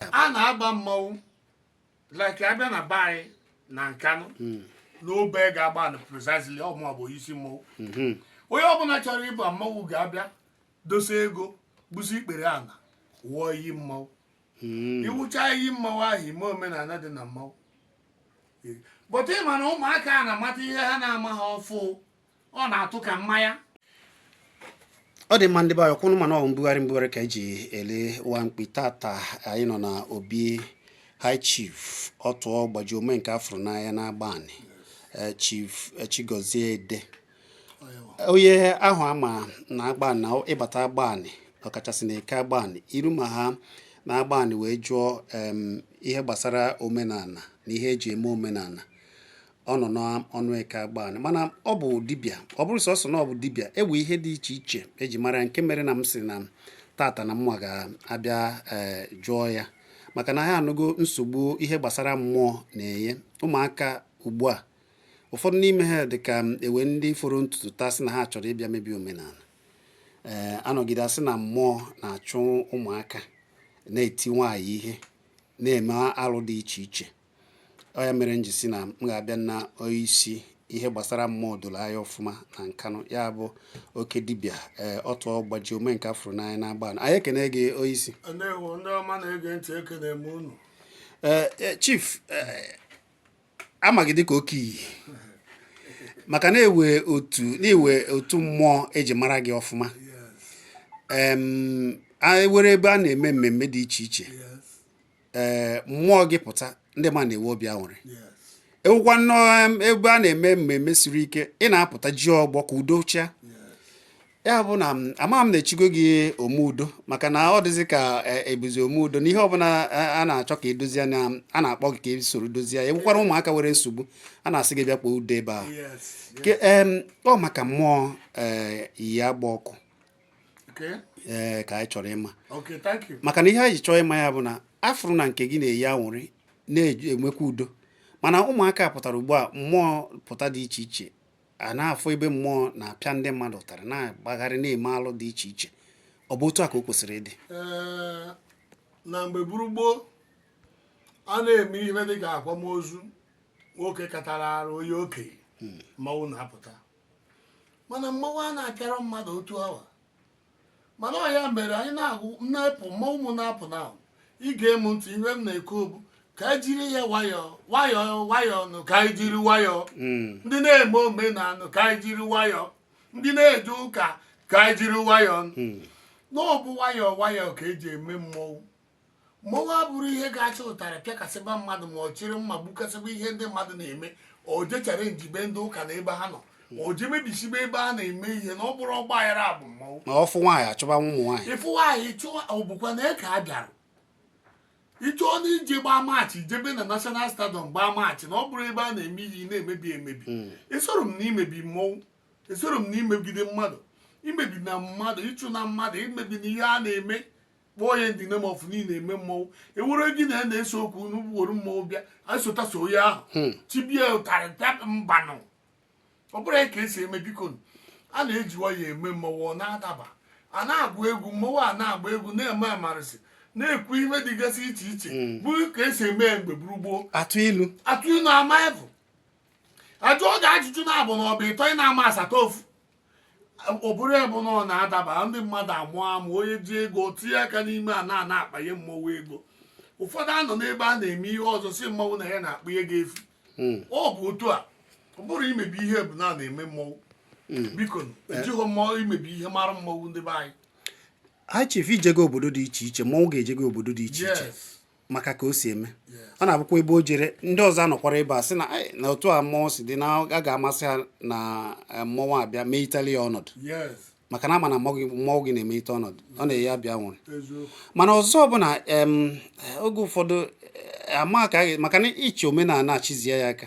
a na-agba mmanwụ like abịa na be anyị na nkanụ hmm. n'obeagụ agbanị precisely ọ m bụ isi mmanwụ hmm. onye ọbụla chọrọ ịba mmanwụ ga-abịa dosa ego gbusi ikpere ala wụọ iyi mmanwụ hmm. iwụcha iyi mmanwụ ahụ ime omenala dị na mmanwụ but ịma na ụmụaka a na-amata ihe ha na-ama ha ọfụ ọ na-atụ ka mmanya ọ dị mma ndị be anyị kwụnụ mana ọ mbugharị mbugharị ka eji ele nwa mkpi tata anyị nọ na obi high chief ọtụọ gbaji ome nke afụrụ n'anya na agbanị eh, chief eh, chigozie ede onye ahụ ama na agbanị ịbata agbanị ọkachasị na eke agbanị iru ma ha na agbanị wee jụọ ihe gbasara omenala na ihe eji eme omenala ọ nọ n'ọnụ eke agbanị mana ọ bụ dibịa ọ bụrọ sọsọ na ọ bụ dibịa ewe ihe dị iche iche eji mara nke mere na m sị na tata na m ga-abịa eh, jụọ ya maka na ha anụgo nsogbu ihe gbasara mmụọ na-enye ụmụaka ugbu a ụfọdụ n'ime ha dị ka ewe ndị foro n'ụtụtụ taa sị na ha chọrọ ịbịa mebi omenala ee eh, anọgide asị na mmụọ na-achụ ụmụaka na-eti nwaanyị ihe na-eme alụ dị iche iche ọ ya mere m ji sị na m ga-abịa na onyeisi ihe gbasara mmụọ doro anya ọfụma na nkanụ ya bụ oke dibịa ee eh, ọtụ ọgbaji ome nke afụrụ n'anya na agbanị anyị ekene gị onyeisi ee eh, eh, chief ama gị dịka oke iyi maka na ewe otu na ewe otu mmụọ eji mara gị ọfụma ewere ebe a na-eme mmemme dị iche iche ee mmụọ gị pụta ndị ma na-enwe obi aṅụrị ewukwanụ ebe a na-eme mmemme siri ike ị na-apụta ji ọgbọ ka udo chịa ya bụ na ama m na-echigo gị ome udo maka na ọ dịzị ka ị bụzị ome udo na ihe ọbụla a na-achọ ka edozie a na-akpọ gị ka i soro dozie ya ewukwara ụmụaka nwere nsogbu a na-asị gị bịa kpọọ udo ebe ahụ ọ maka mmụọ e, iyi agba ọkụ ee eh, ka anyị chọrọ ịma maka na ihe anyị ji chọọ ịma ya bụ na afụrụ na nke gị na-eyi aṅụrị na-enwekwa udo mana ụmụaka pụtara ugbu a mmụọ pụta dị iche iche a na-afụ ebe mmụọ na-apịa ndị mmadụ ụtarị na-agbagharị na-eme alụ dị iche iche ọ bụ otu a ka o kwesịrị ịdị eh, na mgbe buru gboo a na-eme ihe dị ka akwamozu nwoke katara arụ onye okenye hmm. mmanwụ na-apụta mana mmanwụ a na-apịara mmadụ otu awa mana ọ ya mere anyị na-agụ na-epụ mmanwụ m na-apụ na ahụ ige m ntị ihe m na-ekwu bụ ka anyị jiri ya nwayọọ nwayọọ nwayọọ nụ ka anyị jiri nwayọọ ndị na-eme omenala ka anyị jiri nwayọọ ndị na-eje ụka ka anyị jiri nwayọọ nụ n'ọbụ nwayọọ nwayọọ ka eji eme mmọnwụ Mmọnwụ abụrụ ihe ga-achị ụtarị pịakasịba mmadụ ma ọ chịrị mma gbukasịba ihe ndị mmadụ na-eme o jechara njibe ndị ụka na ebe ha nọ o je mebisibe ebe a na-eme ihe na ọ bụrụ ọgba aghara bụ mmọnwụ ma ọ fụ nwaanyị achụba nwa ụmụ nwaanyị ị fụ nwaanyị chụọ ọ bụkwa nke a bịara ịchọọ na ije gbaa maachị jebe na national stadium gbaa maachị na ọ bụrụ ebe a na-eme ihe ị na-emebi emebi esoro m na imebi mmọnwụ esoro m na imegide mmadụ imebi na mmadụ ịchụ na mmadụ imebi na ihe a na-eme kpọọ ya ndị na-eme ofu niile eme mmọnwụ ewere gị na ya na-ese okwu n'ugboro mmọnwụ bịa asota sọ onye ahụ hmm. chịbie ụtarị pịa mbanụ ọ bụrọ ya ka esi eme biko a na-eji nwayọ eme mmọnwụ ọ na-adaba a na-agụ egwu mmọnwụ a na-agba egwu na-eme amarịsị na-ekwu ihe dịgasị iche iche hmm. bụ ka esi eme ya mgbe gburu gboo atụ ilu ama efu ajụọ gị ajụjụ na-abụ na ọ bụ ịtọ ị na-ama asata ofu ọ bụrụ ya bụ na ọ na-adaba ndị mmadụ amụ amụ onye ji ego tinye aka n'ime a na-ana akpanye mmọnwụ ego ụfọdụ anọ n'ebe a na-eme ihe ọzọ sị mmọnwụ na ya na-akpa ego efu hmm. ọ bụ otu a ọ bụrọ imebi ihe bụ na na-eme mmọnwụ hmm. biko ejighị mmọnwụ imebi ihe mara mmọnwụ ndị be anyị High Chief i jego obodo dị iche iche mmọnwụ gị ejego obodo dị iche iche maka ka o si eme ọ na-abụkwa ebe o jere ndị ọzọ anọkwara ebe a sị na na otu a mmọnwụ si dị na a ga-amasị ha na eh, mmọnwụ abịa mee itali ya ọnọdụ maka na a ma na mmọnwụ gị na-eme ite ọnọdụ ọ na-eyi abịa nwere mana ọzọ bụ na oge ụfọdụ eh, maka maka na iche omenala achịzie ya aka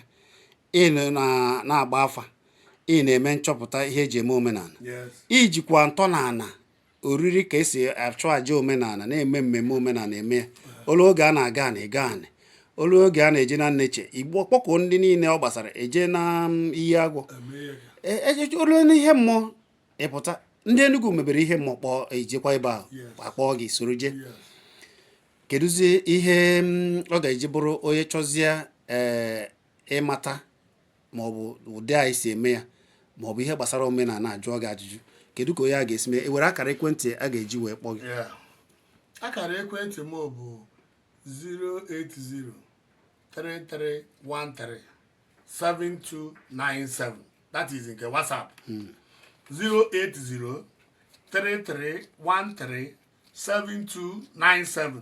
ị na-agba afa ị na-eme nchọpụta ihe eji eme omenala ijikwa ntọala oriri ka esi achụ aja omenala na-eme mmemme omenala eme ya o lu oge a na-aga na ịgọ anị o lu oge a na-eje na nneche igbo kpọkọ ndị niile ọ gbasara eje na mm, iyi agwọ e, e, e, o lu ihe mmụọ ịpụta ndị Enugu mebere ihe mmụọ kpọọ ejekwa ebe ahụ akpọọ gị soro jee kedụzi ihe mm, ọ ga-eji bụrụ onye chọzie ịmata ma ọ bụ ụdị anyị si eme ya ma ọ bụ ihe gbasara omenala ajụọ gị ajụjụ kedu ka onye a ga-esi mee i nwere akara ekwentị a ga-eji wee kpọọ gị akara ekwentị m bụ 08033137297 that is nke WhatsApp 08033137297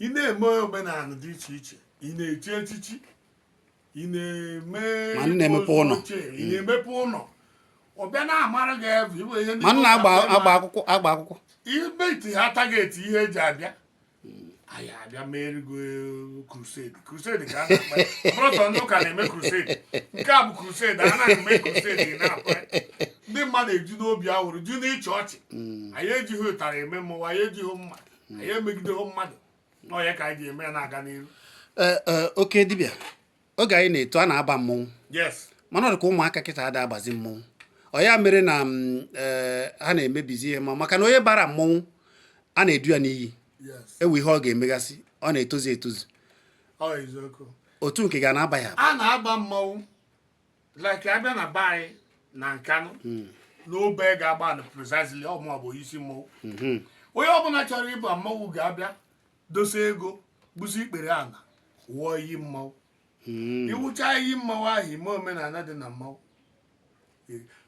ị na-eme omenala dị iche iche ị na-echi echichi ị na-eme ma ị na-emepe ụlọ ị na-emepe ụlọ ọbịa na-amara gị ebe iwe ihe ma ị na-agba akwụkwọ agba akwụkwọ ibe iti ha target ihe eji abịa anyị abịa meere gị crusade crusade ka a na-akpọ ọ bụrọ sọ ndị ụka na-eme crusade nke a bụ crusade a na-eme crusade na-akpa ndị mmadụ eju n'obi aṅụrị ju n'ịchị ọchị mm. anyị ejighị ụtarị eme mmụọ anyị ejighị mma anyị emegideghị mmadụ na ọ ya ka anyị ji eme ya na-aga n'ihu Ee, ee, oke dibịa oge anyị na-eto a na-aba mmọnwụ yes mana ọ dị ka ụmụaka kịta ada abazi mmọnwụ ọ ya mere na mm, ee, ha na-emebizi ihe ma maka na onye bara mmọnwụ a na-edu ya n'iyi yes ewe ihe ọ ga-emegasị ọ na-etozu etozu ọ eziokwu otu nke gị a na-aba ya a na-aba mmanwụ like abịa na be anyị na Nkanụ hmm. n'Obeagu Agbani precisely ọ mụ bụ isi mmọnwụ hmm. onye ọbụla chọrọ ịba mmọnwụ ga-abịa dosa ego gbusi ikpere ala wụọ iyi mmọnwụ hmm. iwụcha iyi mmọnwụ ahụ ime omenala dị na mmọnwụ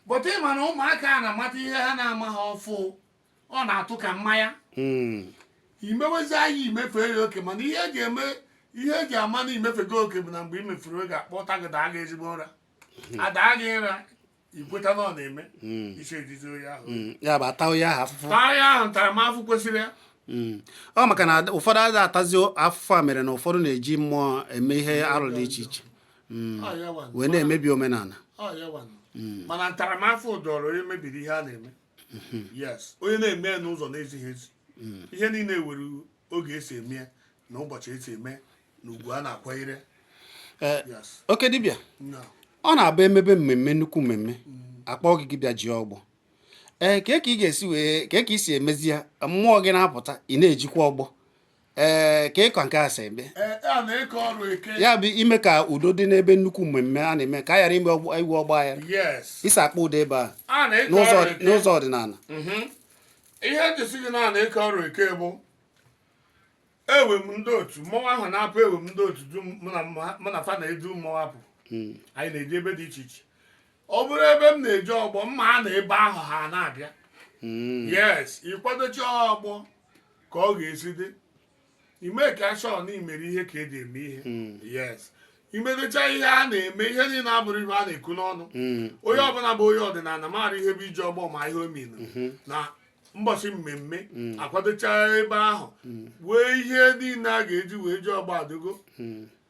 but ịma na ụmụaka a na-amata ihe ha na-ama ha ọfụ ọ na-atụ ka mmanya hmm. imewezie ya imefe ya oke mana ihe eji eme ihe eji ama na imefego oke bụ na mgbe imefere oke akpọta gị daa gị ezigbo nra hmm. adaa gị nra ikweta na ọ na-eme hmm. isi ejizi onye ahụ ya bụ ata onye ahụ afụfụ taa ya ahụ ntaramahụhụ kwesịrị ya ọ maka na ụfọdụ adịghị atazi afụfụ a mere na ụfọdụ na-eji mmụọ eme ihe arụ dị iche iche wee na-emebi omenala mana ntaramahụhụ dụrụ onye mebiri ihe a na-eme mm-hmm. yes onye na-eme n'ụzọ na-ezighị ezi mm. ihe niile were oge esi eme ya na ụbọchị esi eme na ugwu a na-akwanyere eh, oke dibịa ọ na-abụ emebe mmemme nnukwu mmemme mm. akpọ gị gị bịa ji ọgbọ ee eh, ka ka ị ga-esi wee ka ka ị si emezi ya mmụọ gị na-apụta ị na-ejikwa ọgbọ ee ka ịkọ nke a si eme ya bụ ime ka udo dị n'ebe nnukwu mmemme a na-eme ka a ghara ime inwe ọgba aghara isi akpa udo ebe a n'ụzọ ọdịnala mhm. ihe m ji sị gị na ike ọrụ eke bụ ewe m ndị otu mmọnwụ ahụ na-apụ ewe m ndị otu mụ na fa na-edu mmọnwụ apụ hmm. anyị na-eji ebe dị iche iche ọ bụrụ ebe m na-eji ọgbọ mma a na ebe ahụ ha na-abịa hmm. yes ịkwadochi ọgbọ ka ọ ga-esi dị ị make sure na imere ihe ka eji eme ihe hmm. yes imedocha ihe a na-eme ihe niile abụrọ ihe a na-ekwu n'ọnụ hmm. onye ọbụla bụ onye ọdịnala maara ihe bụ iji ọgbọ ma ihe ọ mean hmm. na mbọchị mmemme akwadocha ebe ahụ wee ihe niile a ga-eji wee ji ọgbọ adụgo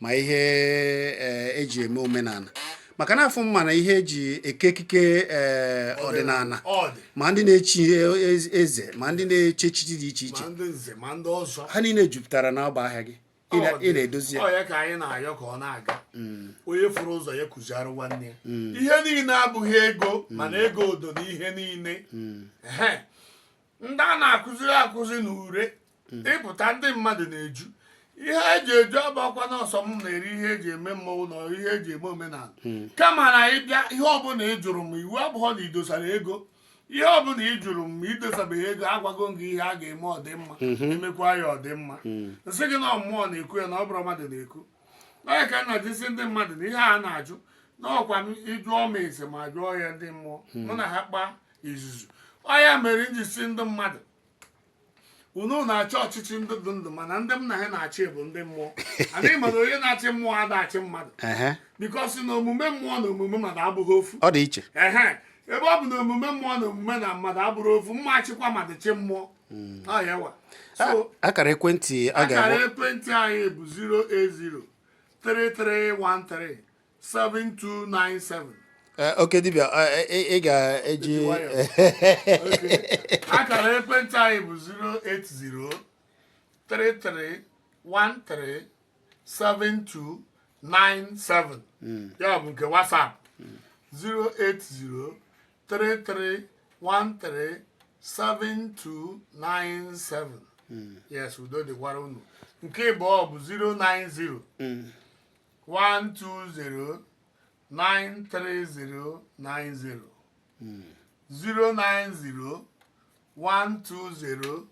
ma ihe eji e eme omenala maka na afụ m ma ihe eji eke ekike ọdịnala ma ndị na-echi e, e, eze ma ndị na-echi echichi dị iche iche ha niile jupụtara na ọba ahịa gị ị na-edozi ya ka anyị na-ayọ ka ọ na-aga mm. onye fụrụ ụzọ ya kụziara nwanne ya mm. ihe niile abụghị ego mm. mana ego dụ na ihe niile ndị a na-akụziri akụzi na ure hmm. ịpụta ndị mmadụ na-eju ihe eji eju abakwa n'ọsọ m na-eri ihe eji eme mmọnwụ na ihe eji eme omenala hmm. kama na ịbịa ihe ọbụla ị jụrụ m iwu abụrọ na idosara ego ihe ọ bụla ị jụrụ m ma idosabeghị ego agwago m gị ihe a ga-eme ọ dị mma mhm. emekwa ya ọ dị mma mm. m sị gị na ọ mmụọ na-ekwu ya na ọ bụrọ mmadụ na-ekwu ọ ya ka m na-eji sị ndị mmadụ na ihe a na-ajụ n'ọkwa m ị jụọ m ese m ajụọ ya ndị mmụọ mm. mụ na ha kpaa izuzu ọ ya mere m ji sị ndị mmadụ unu na-achị ọchịchị ndị dị ndụ mana ndị m na ha na-achị bụ ndị mmụọ and mana onye na-achị mmụọ ada achị mmadụ ehe because na omume mmụọ na omume mmadụ abụrọ ofu ọ dị iche ehe ebe ọ bụ na omume mmụọ na omume na mmadụ abụrọ ofu m ma achịkwa mmadụ chị mmụọ ọ ya wa A- so akara ekwentị a akara ekwentị anyị bụ 7297 eh, oke dibịa eh, eh, ị ga-eji akara ekwentị anyị bụ 08033137297 hmm. ya bụ nke WhatsApp 08033137297 hmm. yes udo dịkwara unu nke ịbụọ bụ 090 120 93090 090 120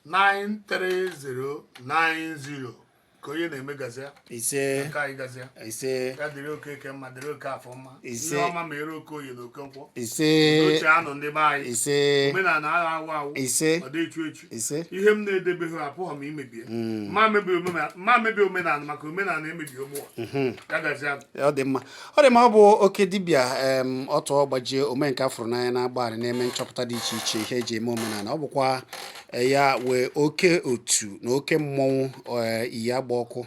93090 ka onye na-eme gazia ise ka anyị gazia ise ya dịrị oke eke mma dịrị oke afọ mma Ise. ihe ọma meere oke oye na oke nkwọ ise oche anọ ndị be anyị ise omenala ada anwụ anwụ ise ọ dị echu echu ihe m na-edebeghị apụghị m imebi ya hmm. ma mebi omenala maka omenala emebi ụmụ ụwa hmm. ọ dị mma ọ dị mma ọ bụ oke dibịa Ọtụọgbajie omenka a fụrụ n'anya n'Agbani na-eme nchọpụta dị iche iche ihe eji eme omenala ọ bụkwa eh, ya wee oke otu na oke mmọnwụ eh, iyi agba ọkụ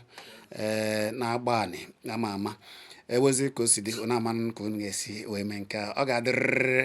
eh, n'Agbani ama ama ewezi ka o si dị na-amanụ ka unu ga-esi wee mee nke ọ ga-adịrịrị